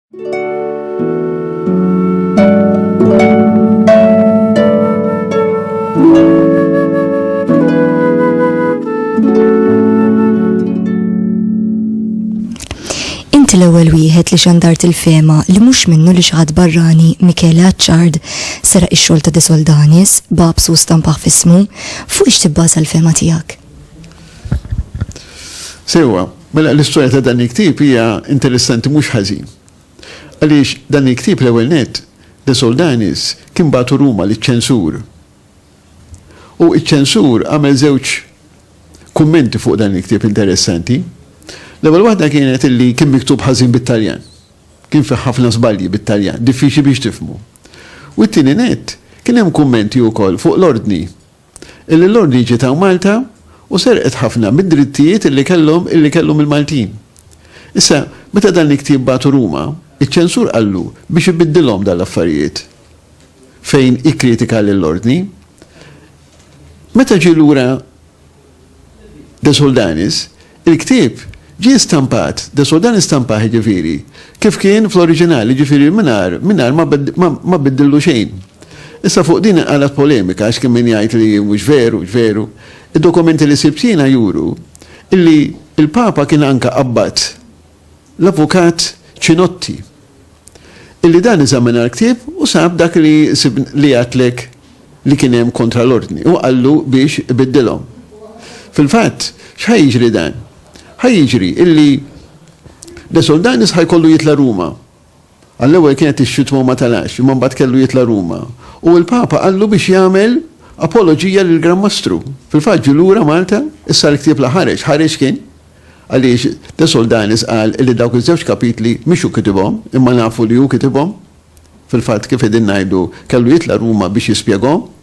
Inti l-ewwel wieħed li xandart il-fema li mhux minnu li xaħat barrani Michele Aċċard sera ix-xogħol ta' Desoldanis, babs u stampaħ fismu, fuq ix tibbaża l-fema tiegħek? Sewa, Mela l-istorja ta' dan il-ktieb hija interessanti mhux ħażin. Għaliex dan il-ktieb l-ewwel nett, De Soldanis kien bagħtu Ruma liċ-ċensur. U ċ-ċensur għamel żewġ kummenti fuq dan il-ktieb interessanti. L-ewwel waħda kienet illi kien miktub ħażin bit-Taljan. Kien fih ħafna żbalji bit-Taljan, diffiċli biex tifhmu. U t-tieni nett, kien hemm kummenti wkoll fuq l-ordni illi l-Ordni ġiet hawn Malta u serqet ħafna mid-drittijiet illi kellhom illi kellhom il-Maltin. Issa, meta dan il-ktieb bagħtu Ruma, iċ-ċensur qallu biex ibiddilhom dan l-affarijiet fejn ikkritika lill-Ordni. Meta ġie lura De Soldanis, Il-ktieb ġie stampat, de Sodan istampah jiġifieri, kif kien fl-oriġinal, jiġifieri mingħajr, mingħajr ma, ma, ma biddillu xejn. Issa fuq din inqalgħet polemika għax kien min jgħid li mhux veru, mhux veru. Id-dokumenti li sibt jiena juru illi l-Papa kien anke abbat l-Avukat Cinotti, illi dan eżamina l-ktieb u sab dak li li għidtlek li kien hemm kontra l-Ordni u qallu biex ibiddilhom. Fil-fatt, x'ħa jiġri dan? Ħa jiġri illi De Soldanis ħa jkollu jitla' Ruma. Għall-ewwel kienet ix-xitwa u ma telax, imma mbagħad kellu jitla' Ruma. U l-Papa qallu biex jagħmel apoloġija lill-Gran Mastru. Fil-fatt ġie lura Malta, issa l-ktieb la ħareġ, ħareġ kien, għaliex De Soldanis qal li dawk iż-żewġ kapitli mhix hu kitibhom, imma nafu li hu kitibhom. Fil-fatt kif qegħdin ngħidu, kellu jitla' Ruma biex jispjegahom.